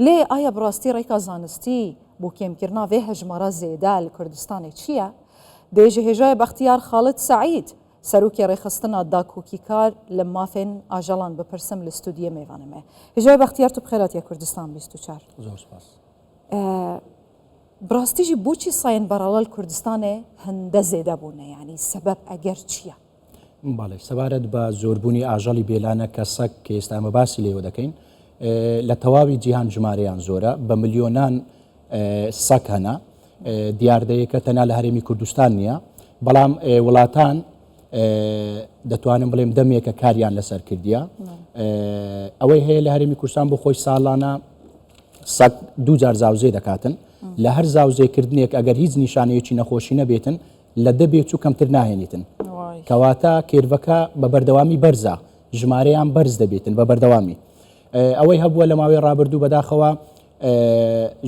لێ ئایا بڕاستی ڕێکا زانستی بو کێمکرنا ڤێ هەژمارا زێدە لە کوردستانێ چیە؟ دێژە هێژای بەختیار خالد سەعید، سەروکێ ڕێخستنا داکوکیکار لە مافێن ئاژەڵان بپرسم لە ستودیێ مێڤانەێ. هێژای بەختیار تو بخێراتیە کوردستان بیست و چار. زۆر سپاس. بڕاستیژی بوچی ساێن بەڕەڵەل کوردستانێ هندە زێدە بونە یانی سەبەب ئەگەر چیە؟ بەڵێ سەبارەت بە زۆربوونی ئاژەڵی بێلانە کە سەگ کە ئێستا ئەمە باسی لێوە دەکەین لە تەواوی جیهان ژمارەیان زۆرە بە ملیۆنان سەگ هەنا دیاردەیەکە تەنا لە هەرێمی کوردستان نییە بەڵام وڵاتان دەتوانم بڵێم دەمێکە کاریان لەسەر کردیە ئەوەی هەیە لە هەرێمی کوردستان بۆ خۆی ساڵانە سەگ دووجار زاوزێ دەکاتن لە هەر زاوزێکردنێک ئەگەر هیچ نیشانەیەکی نەخۆشی نەبێتن لە دە بێچوو کەمتر ناهێنیتن کەواتە کێرڤەکە بە بەردەوامی بەرزە ژمارەیان بەرز دەبێتن بە بەردەوامی ئەوەی هەبووە لە ماوەی ڕابردوو بەداخەوە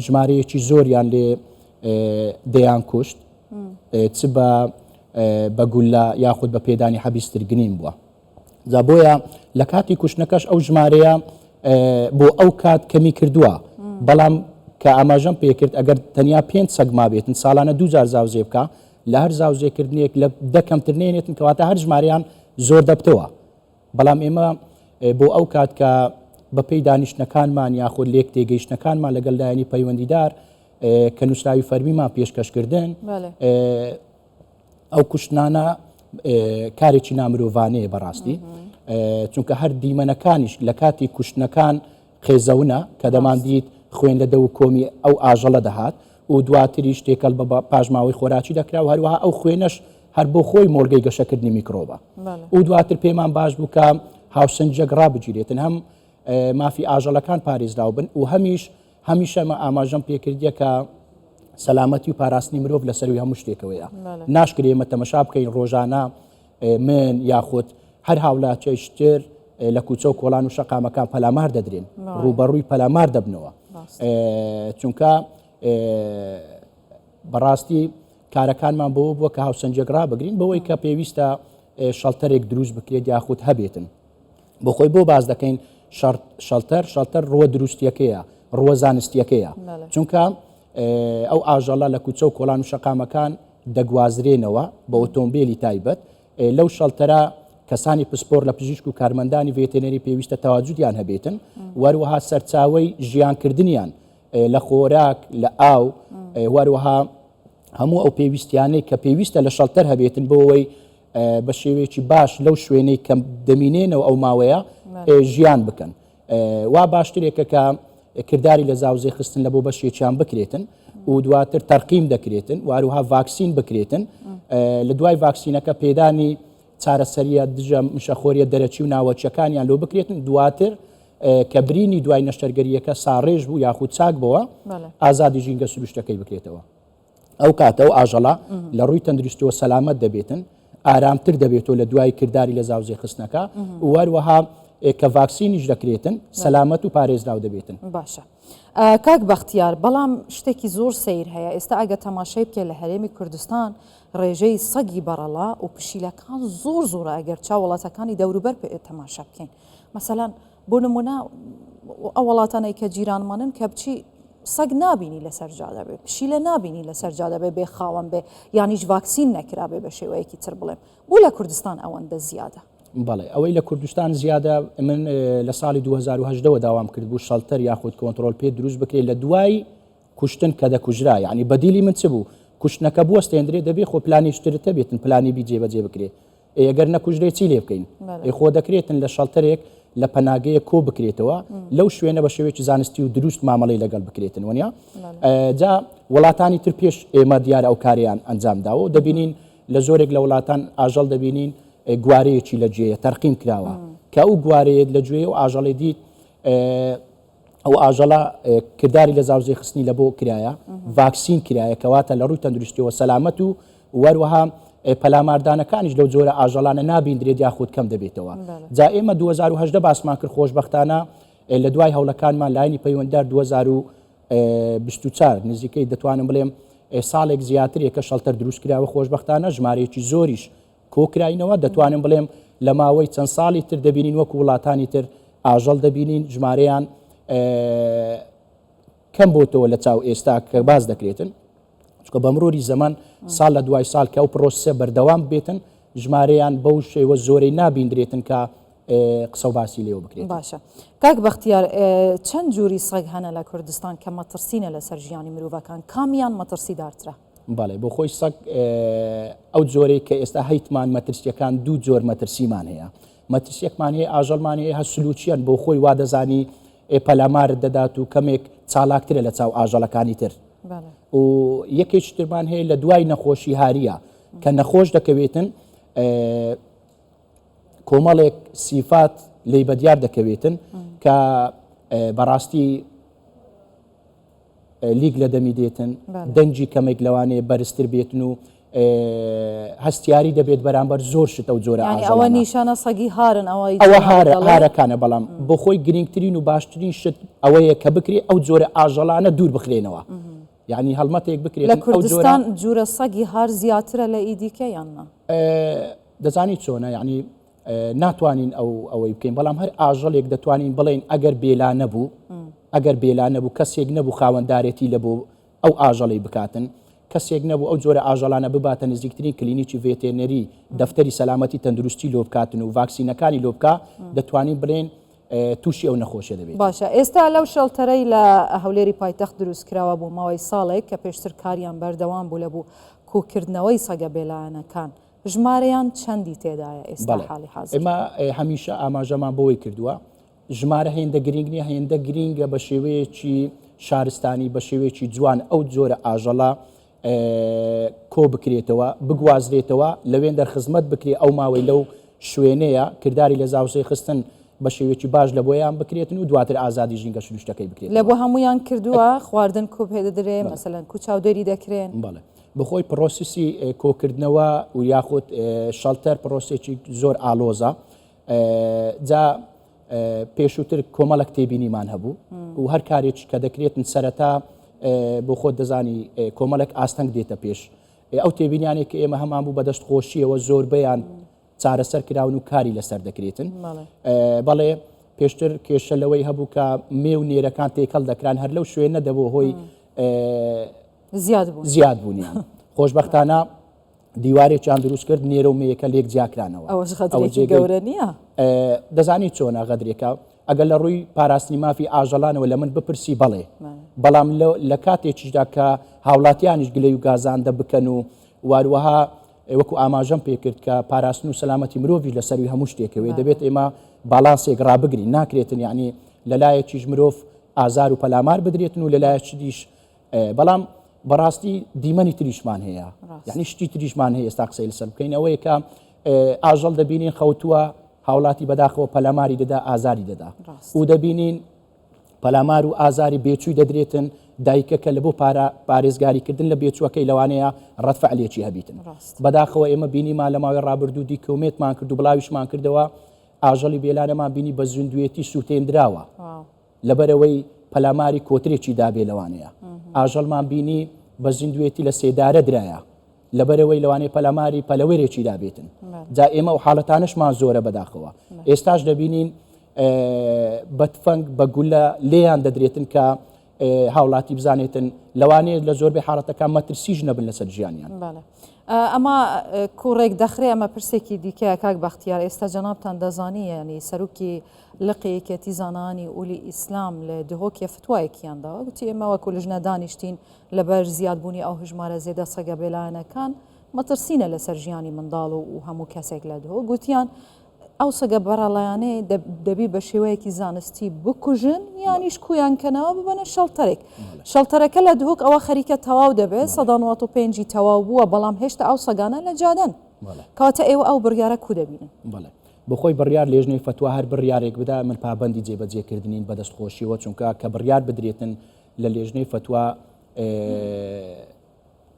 ژمارەیەکی زۆریان لێ دەیان کوشت چ بە بە گولە یاخود بە پێدانی حەبیسترگنین بووە جا بۆیە لە کاتی کوشتنەکەش ئەو ژمارەیە بۆ ئەو کات کەمی کردووە بەڵام کە ئاماژەم پێکرد ئەگەر تەنیا پێ سەگ ما بێتن ساڵانە دوجار زاوزێ بکە لە هەر زاوزێکردنێک لە دەکەمتر نێنێتن کەواتە هەر ژماریان زۆر دەبتەوە بەڵام ئێمە بۆ ئەو کات کە بەپی دانیشتەکانمان یاخود لێک تێگەیشتەکانمان لەگەڵ لایەنی پەیوەندیدار کە نووسراوی فەرمیمان پێشکەشکردن ئەو کوشتنانە کارێکی نامرۆڤانەیە بەڕاستی چونکە هەر دیمەنەکانیش لە کاتی کوشتنەکان قێزەونە کە دەماندیت خوێن لە دە و کۆمی ئەو ئاژەڵە دەهات و دواتریش تێکەل بە پاشماوەی خۆراکی دەکرا و هەروەها ئەو خوێنەش هەر بۆ خۆی مۆلگەی گەشەکردنی میکرۆبە و دواتر پێمان باش بووکە هاوسنجەک ڕابگیرێتن هەم مافی ئاژەڵەکان پارێزراو بن و هەمیش هەمیشە مە ئاماژەم پێکردە کە سەلامەتی و پاراستنی مرۆڤ لە سەروی هەموو شتێکەوەیە ناشکرێ ئمە تەمەشا بکەین ڕۆژانە من یاخود هەر هاولاچەی شتر لە کوچە و کۆلان و شەقامەکان پەلامار دەدرێن ڕوبەڕووی پەلامار دەبنەوە چونکە بەڕاستی کارەکانمان بۆ بووە کە هاوسەنجێک ڕابگرین بەوەی کە پێویستە شەڵتەرێک دروست بکرێت یاخود هەبێتن بۆ خۆی بۆ باس دەکەین شەڵتەر شەڵتەر ڕوە دروستیەکەیە ڕوە زانستیەکەیە چونکە ئەو ئاژەڵە لە کوچە و کۆلان و شەقامەکان دەگوازرێنەوە بە ئۆتۆمبیلی تایبەت لەو شەڵتەرە کەسانی پسپۆر لە پزیشک و کارمەندانی ڤێتێنەری پێویستە تەواجودیان هەبێتن وەروەها سەرچاوی ژیانکردنیان لە خۆراک لە ئاو وەروەها هەموو ئەو پێویستیانەی کە پێویستە لە شەڵتەر هەبێتن بۆەوەی بە شێوەیەکی باش لەو شوێنەی کە دەمینێنەوە ئەو ماوەیە ژیان بکەن وا باشترێکە کە کردداری لە زاوزێ خستن لە بۆ بەشێکیان بکرێتن و دواتر تەرقیم دەکرێتن واروها ڤاکسین بکرێتن لە دوای ڤاکسینەکە پێدانی چارەسەریە دژە مشەخۆریە دەرەچی و ناوەچەکانیان لۆ بکرێتن دواتر کە برینی دوای نەشتەرگەریەکە ساڕێژ بوو یاخود چاک بەوە ئازادی ژینگە سروشتەکەی بکرێتەوە ئەو کاتە ئەو ئاژەڵە لە ڕووی تەندروستەوە سەلامەت دەبێتن ئارامتر دەبێتەوە لە دوای کردداری لە زاوزێ خستنەکە وەروەها کە ڤاکسینیش دەکرێتن سەلامەت و پارێزراو دەبێتن باشە. کاک بەختیار بەڵام شتێکی زۆر سیر هەیە ئێستا ئەگە تەماشای بکە لە هەرێمی کوردستان ڕێژەی سەگی بەڕەڵا و پشیلەکان زۆر زۆر ئەگەر چا وڵاتەکانی دەوروبەر تەماشا بکەین مەسەلەن بۆ نموونە ئەو وڵاتانەی کە جیرانمانن کە بچی سەگ نابینی لەسەر جادە بێ پشیلە نابینی لەسەر جادە بێ بێ خاوەن بێ یانیش ڤاکسین نەکرابێ بە شێوەیەکی تر بڵێم بۆ لە کوردستان ئەوەندە زیادە بەڵێ ئەوەی لە کوردستان زیادە من لە ساڵی 2010ەوە داوام کرد بوو شەڵتەر یاخود کۆنتترۆل پێ دروست بکرێت لە دوای کوشتن کە دەکوژرا یعنی بەدیلی من چ بوو کوشتنەکە بوەستێندرێ دەبێ خۆ پلانیشترتە بێتن پلانی بی جێبەجێ بکرێ ئەی گەر نەکوژرێ چی لێ بکەین ئەی خۆ دەکرێتن لە شەڵتەرێک لە پەناگەیە کۆ بکرێتەوە لەو شوێنە بە شێوێکی زانستی و دروست مامەڵی لەگەڵ بکرێتن وەنیا جا وڵاتانی تر پێش ئێمە دیار ئەو کاریان ئەنجام داوە و دەبینین لە زۆرێک لە وڵاتان ئاژەڵ دەبینین گوارەیەکی لە جێە تەرقیم کراوە کە ئەو گوارەیەت لە گوێ و ئاژەڵی دیت ئەو ئاژەڵە کرداری لە زاوزێ خستنی لە بۆ کرایە ڤاکسین کرایە کەواتە لە ڕووی تەندروستیەوە سەلامەت و وەروەها پەلاماردانەکانیش لەو جۆرە ئاژەڵانە نابیندرێت یاخود کەم دەبێتەوە جا ئێمە 2010 باسمان کرد خۆشببختانە لە دوای هەوڵەکانمان لاینی پەیوەندار 2024 نزیکەی دەتوانم بڵێم ساڵێک زیاترێک کە شەڵتەر دروست کراوە خۆشببختانە ژمارەیەکی زۆریش کۆکراینەوە، دەتوانم بڵێم لە ماوەی چەند ساڵی تر دەبینین وەکو وڵاتانی تر ئاژەڵ دەبینین ژمارەیان کەم بۆتەوە لە چاو ئێستا کە باز دەکرێتن چکە بە مروری زەمان ساڵ لە دوای ساڵ کە ئەو پرۆسە بەردەوام بێتن ژمارەیان بەو شێوە زۆرەی نابیندرێتن کە قسە باسی لێو بکرێت باشە کاک بەختیار چەند جووری سەگ هەنە لە کوردستان کە مەترسینە لەسەر ژیانی مرۆڤەکان کامیان مەترسی دارترە بەڵێ بۆ خۆی سەگ ئەو جۆرەی کە ئێستا هەیتمان مەترسیەکان دوو جۆر مەترسیمان هەیە مەترسیەکمان هەیە ئاژەڵمان هەیە هە سلوچیان بۆ خۆی وادەزانی پەلامارت دەدات و کەمێک چالاکترە لە چاو ئاژەڵەکانی تر و یەکێکی ترمان هەیە لە دوای نەخۆشی هاریە کە نەخۆش دەکەوێتن کۆمەڵێک سیفات لی بەدیار دەکەوێتن کە بەڕاستی لیک لە دەمی دێتن دەنگی کەمێک لەوانەیە بەرزتر بێتن و هەستیاری دەبێت بەرامبەر زۆر شتە و جۆرە ئەوە نیشانە سەگی هارن ئەوە هارەکانە بەڵام بۆ خۆی گرنگترین و باشترین شت ئەوەیە کە بکرێت ئەو جۆرە ئاژەڵانە دوور بخرێنەوە یعنی هەڵمەتێک بکرێت لە کوردستان جورە سەگی هار زیاترە لە ئیدیکە یاننا دەزانی چۆنە یعنی ناتوانین ئەو ئەوەی بکەین بەڵام هەر ئاژەڵێک دەتوانین بڵێین ئەگەر بێلا نەبوو ئەگەر بێلا نەبوو کەسێک نەبوو خاوەندارێتی لە بۆ ئەو ئاژەڵی بکاتن کەسێک نەبوو ئەو جۆرە ئاژەڵانە بباتە نزیکترین کلینیکی ڤێتێنەری دەفتەری سەلامەتی تەندروستی لۆ بکاتن و ڤاکسینەکانی لۆ بکە دەتوانین بڵێن تووشی ئەو نەخۆشە دەبێت باشە ئێستا لەو شەڵتەرەی لە هەولێری پایتەخت دروست کراوە بۆ ماوەی ساڵێک کە پێشتر کاریان بەردەوام بوو لە بوو کوکردنەوەی سەگە بێلایەنەکان ژمارەیان چەندی تێدایە ئێستا حاڵی حازر؟ بەڵێ، ئێمە هەمیشە ئاماژەمان بەوەی کردووە، ژمارە هێندە گرینگ نییە، هێندە گرینگە بە شێوەیەکی شارستانی، بە شێوەیەکی جوان ئەو جۆرە ئاژەڵە کۆ بکرێتەوە، بگوازرێتەوە، لەوێندەر خزمەت بکرێت، ئەو ماوەی لەو شوێنەیە کرداری لە زاوزێ خستن بە شێوێکی باش لە بۆیان بکرێتن و دواتر ئازادی ژینگە شروشتەکەی بکرێت لە بۆ هەمویان کردووە خواردن کوپێ دەدرێ مەسەلەن کو چاودێری دەکرێن بەڵێ بەهۆی پرۆسیسی کۆکردنەوە و یاخود شەڵتەر پرۆسێکی زۆر ئالۆزە جا پێشووتر کۆمەڵک تێبینیمان هەبوو و هەر کارێک کە دەکرێتن سەرەتا بۆ خۆت دەزانی کۆمەڵک ئاستەنگ دێتە پێش ئەو تێبینیانێک کە ئێمە هەمان بوو بەدەست خۆشیەوە زۆربیان چارەسەر کراون و کاری لەسەر دەکرێتن بەڵێ پێشتر کێشە لەوەی هەبوو کە مێ و نێرەکان تێکەڵ دەکران هەر لەو شوێنە دەبوو هۆی زیاد بوونیان خۆشببختانە دیوارێکیان دروست کرد نێرە و مەیەکە لێک جیاکرانەوە گەورە نیە دەزانی چۆنە غەدرێکە ئەگەر لە ڕووی پاراستنی مافی ئاژەڵانەوە لە من بپرسی بڵێ بەڵام لە کاتێکیشدا کە هاوڵاتیانیش گلەی و گازاندە بکەن و واروەها وەکو ئاماژەم پێکرد کە پاراستن و سەلامەتی مرۆڤی لە سەروی هەموو شتێکەوەی دەبێت ئێمە باڵانسێک ڕابگرین ناکرێتن یعنی لەلایەکیش مرۆڤ ئازار و پەلامار بدرێتن و لەلایەکیش بەڵام بەڕاستی دیمەنی تریشمان هەیە یعنی شتی تریشمان هەیە ئێستا قسەی لەسەر بکەین ئەوەیە کە ئاژەڵ دەبینین خەوتووە هاوڵاتی بەداخەوە پەلاماری دەدا ئازاری دەدا و دەبینین پەلامار و ئازاری بێچووی دەدرێتن دایکەکە لە بۆ پارە پارێزگاریکردن لە بێچووەکەی لەوانەیە ڕەتفع لێکی هەبیتن بەداخەوە ئێمە بینیمان لە ماوەی ڕابردوو دیکۆمێتمان کرد و بڵاویشمان کردەوە ئاژەڵی بێلانەمان بینی بە زیندوێتی سووتێندراوە لەبەرئەوەی پەلاماری کۆترێکی دابێ لەوانەیە ئاژەڵمان بینی بە زیندوێتی لە سێدارە درایە لەبەرەوەی لەوانەیە پەلاماری پەلەوەرێکی دابێتن جا ئێمە و حاڵەتانشمان زۆرە بەداخەوە ئێستاش دەبینین بە تفەنگ بە گولە لێیان دەدرێتن کە هاوڵاتی بزانێتن لەوانەیە لە زۆربەی حاڵەتەکان مەترسیش نەبن لەسەر ژیانیان ئەمە کوڕێک دەخرێ ئەمە پرسێکی دیکە کاک بەختیار ئێستا جەنابان دەزانانی سەرروکی لقی یەکێتی زانایانی ئولی ئیسلام لە دهۆکێ فتوایەکیان داوە گوتی ئێمە وەکو لژنە دانیشتین لەبەر زیاد بوونی ئەو هەژمارە زێدە سەگە بێلایەنەکان مەترسینە لەسەر ژیانی منداڵ و هەموو کەسێک لە دهۆک گوتیان ئەو سەگە بەڕەڵایانەی دەبی بە شێوەیەکی زانستی بکوژن یانیش کویان کەنەوە ببەنە شەڵتەرێک شەڵتەرەکە لە دهۆک ئەوە خەریکە تەواو دەبێت سەدا 95 تەواو بووە بەڵام هێشتا ئەو سەگانە لە جادەن کاتە ئێوە ئەو بڕیارە کو دەبینن بڵێ بەخۆی بڕیار لێژنەی فەتوا هەر بڕیارێک بدا من پابەندی جێبەجێکردنین بەدەست خۆشیەوە چونکە کە بڕیار بدرێتن لە لێژنەی فەتوا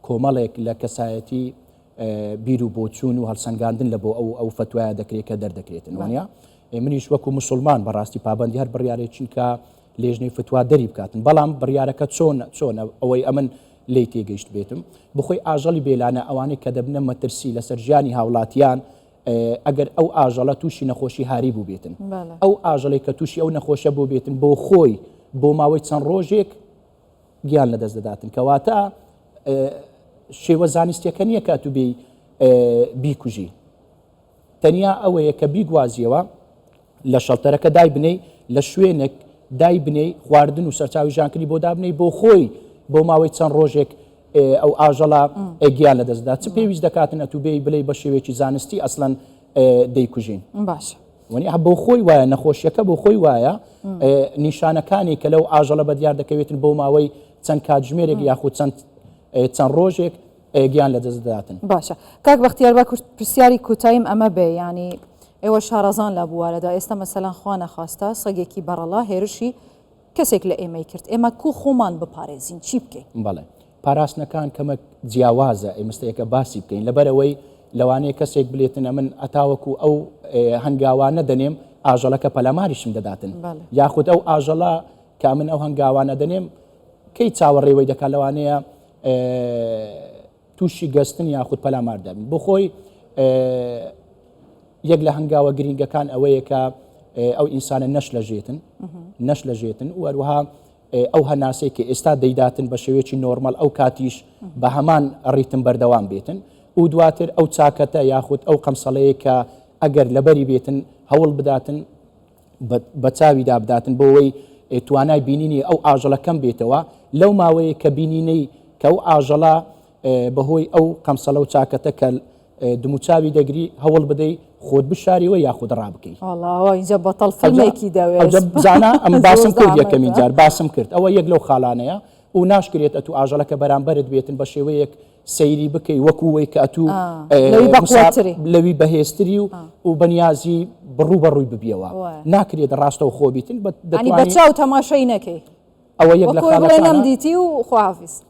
کۆمەڵێک لە کەسایەتی بیر و بۆچوون و هەڵسەنگاندن لە بۆ ئەو ئەو فەتوایە دەکرێت کە دەردەکرێتن وانە منیش وەکو مسلمان بەڕاستی پابندی هەر بڕیارێک چونکە لێژنەی فتووا دەری بکاتن بەڵام بڕیارەکە چۆن چۆنە ئەوەی ئەمن لی تێگەیشت بێتم بخۆی ئاژەڵی بێلانە ئەوانەی کە دەبنە مەترسی لەسەر ژیانی هاوڵاتیان ئەگەر ئەو ئاژەڵە تووشی نەخۆشی هاری بووبێتن ئەو ئاژەڵێک کە تووشی ئەو نەخۆشە بۆ بێتن بۆ خۆی بۆ ماوەی چەند ڕۆژێک گیان لە دەست دەداتن کەواتە شێوە زانستیەکە نییە کە تو بێ بیکوژی تەنیا ئەوەیە کە بیگوازیەوە لە شەڵتەرەکە دایبنێی، لە شوێنێک دایبنێی خواردن و سەرچاوی ژانکری بۆ دابنێی بۆ خۆی بۆ ماوەی چەند ڕۆژێک ئەو ئاژەڵە گیان لە دەستدا چ پێویست دەکاتن ئەتو بێی بلەی بە شێوێکی زانستی ئەسلەن دەیکوژین باش. وەنی بۆ خۆی وایە نەخۆشیەکە بۆ خۆی وایە نیشانەکانی کە لەو ئاژەڵە بە دیار دەکەوێتن بۆ ماوەی چەند کاتژمێرێک یاخود چەند چەند ڕۆژێک ئەیە گیان لە دەست دەداتن. باشە کاک بەختیار با پرسیاری کوتایم ئەمە بێ یانی ئێوە شارەزان لە بوارەدا ئێستا مەسەلەن خوا نەخواستە سەگێکی بەڕەڵا هێرشی کەسێک لە ئێمەی کرد ئێمە کو خۆمان بپارێزین چی بکەین بەڵێ پاراستنەکان کەمە جیاوازە ئێمستەیەکە باسی بکەین لەبەرەوەی لەوانەیە کەسێک بلێتنە من ئەتاوەکو ئەو هەنگاوانە دەنێم ئاژەڵەکە پەلاماریشم دەداتن یاخود ئەو ئاژەڵە کە من ئەو هەنگاوانە دەنێم کەی چاوەڕێوەی دەکات لەوانەیە تووشی گەستن یاخود پەلامار دەبن بۆ خۆی یەک لە هەنگاوە گرنگەکان ئەوەیە کە ئەو ئینسانە نەش لە ژێتن نەش لە ژێتن وەروها ئەو هەناسەی کە ئێستا دەیداتن بە شێوێکی نۆرمەل ئەو کاتیش بە هەمان ڕیتم بەردەوام بێتن و دواتر ئەو چاکەتە یاخود ئەو قەمسەڵەیە کە ئەگەر لەبەری بێتن هەوڵ بداتن بە چاوی دابداتن بۆ وەی توانای بینینی ئەو ئاژەڵە کەم بێتەوە لەو ماوەیە کە بینینەی کە ئەو ئاژەڵە بەهۆی ئەو قەمسەڵە و چاکەتە کە دموچاوی دەگری هەوڵ بدەی خۆت بشاریەوە یاخود ڕابکەی ئەوجا بەتەڵ فەلمێکی دەوێزانە ئەم باسم کرد یەکەمین جار باسم کرد ئەوە یەک لەو خاڵانەیە و ناشکرێت ئەتو ئاژەڵەکە بەرامبەرت بێتن بە شێوەیەک سەیری بکەی وەکو وەی کاتوو لەوی بەهێزتری و و بەنیازی بڕوو بە ڕووی ببیەوە ناکرێت ڕاستە و خۆبیتن بەچاو تەماشای نەکەی ئەوە یەک لەم دیتی و خواافیس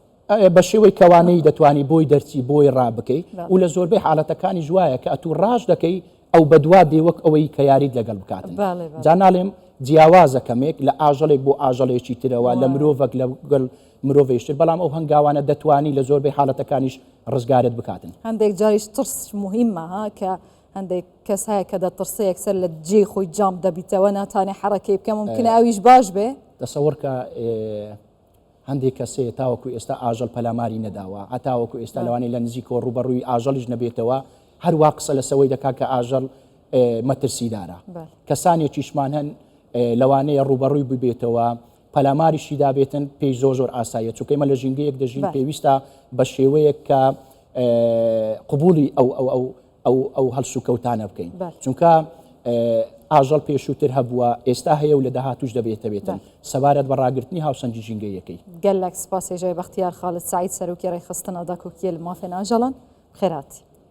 بە شێوەی کەوانەی دەتوانی بۆی دەرچی بۆی ڕابکەی و لە زۆربەی حالەتەکانی جوایە کە ئەتوو ڕاش دەکەی ئەو بەدوا دێ وەک ئەوەی کە یاریت لەگەڵ بکات جاناڵێم جیاوازە کەمێک لە ئاژەڵێک بۆ ئاژەڵێکی ترەوە لە مرۆڤک لە گەل مرۆڤیشتر، بەڵام ئەو هەنگاوانە دەتوانی لە زۆربەی حالەتەکانیش ڕزگارت بکاتن. هەندێک جاریش ترس موهیمە ها کە هەندێک کەس هەیە کە دەترسێ یەکسەر لە جێی خۆی جامپ دەبیتەوە ناتانێ حەڕەکەی بکە مومکنە ئەویش باش بێ تەسەوەڕ کە هەندێک کەسێ تاوەکو ئێستا ئاژەڵ پەلاماری نەداوە هەتاوەکو ئێستا لەوانەیە لە نزیکەوە ڕوبەڕووی ئاژەڵیش نەبێتەوە هەروە قسە لە سەوەی دەکا کە ئاژەڵ مەترسیدارە کەسانێکیشمان هەن لەوانەیە ڕوبەڕووی ببێتەوە پەلاماریشی دابێتن پێی زۆر زۆر ئاساییە چونکە ئێمە لە ژینگەیەک دەژین پێویستە بە شێوەیەک کە قوبولی ئەو ئەو ئەو ئەو ئەو هەلسو کەوتانە بکەین چونکە ئاژەڵ پێشووتر هەبووە ئێستا هەیە و لە داهاتوش دەبێتەبێتن سەبارەت بە ڕاگررتنی هاوسەنگی ژینگەیەکەی گەلک سپاسێژای بەختیار خاڵت سعید سەرۆکی ڕێخستن ئەدا کوکیل مافێن ئاژەڵان خێراتی.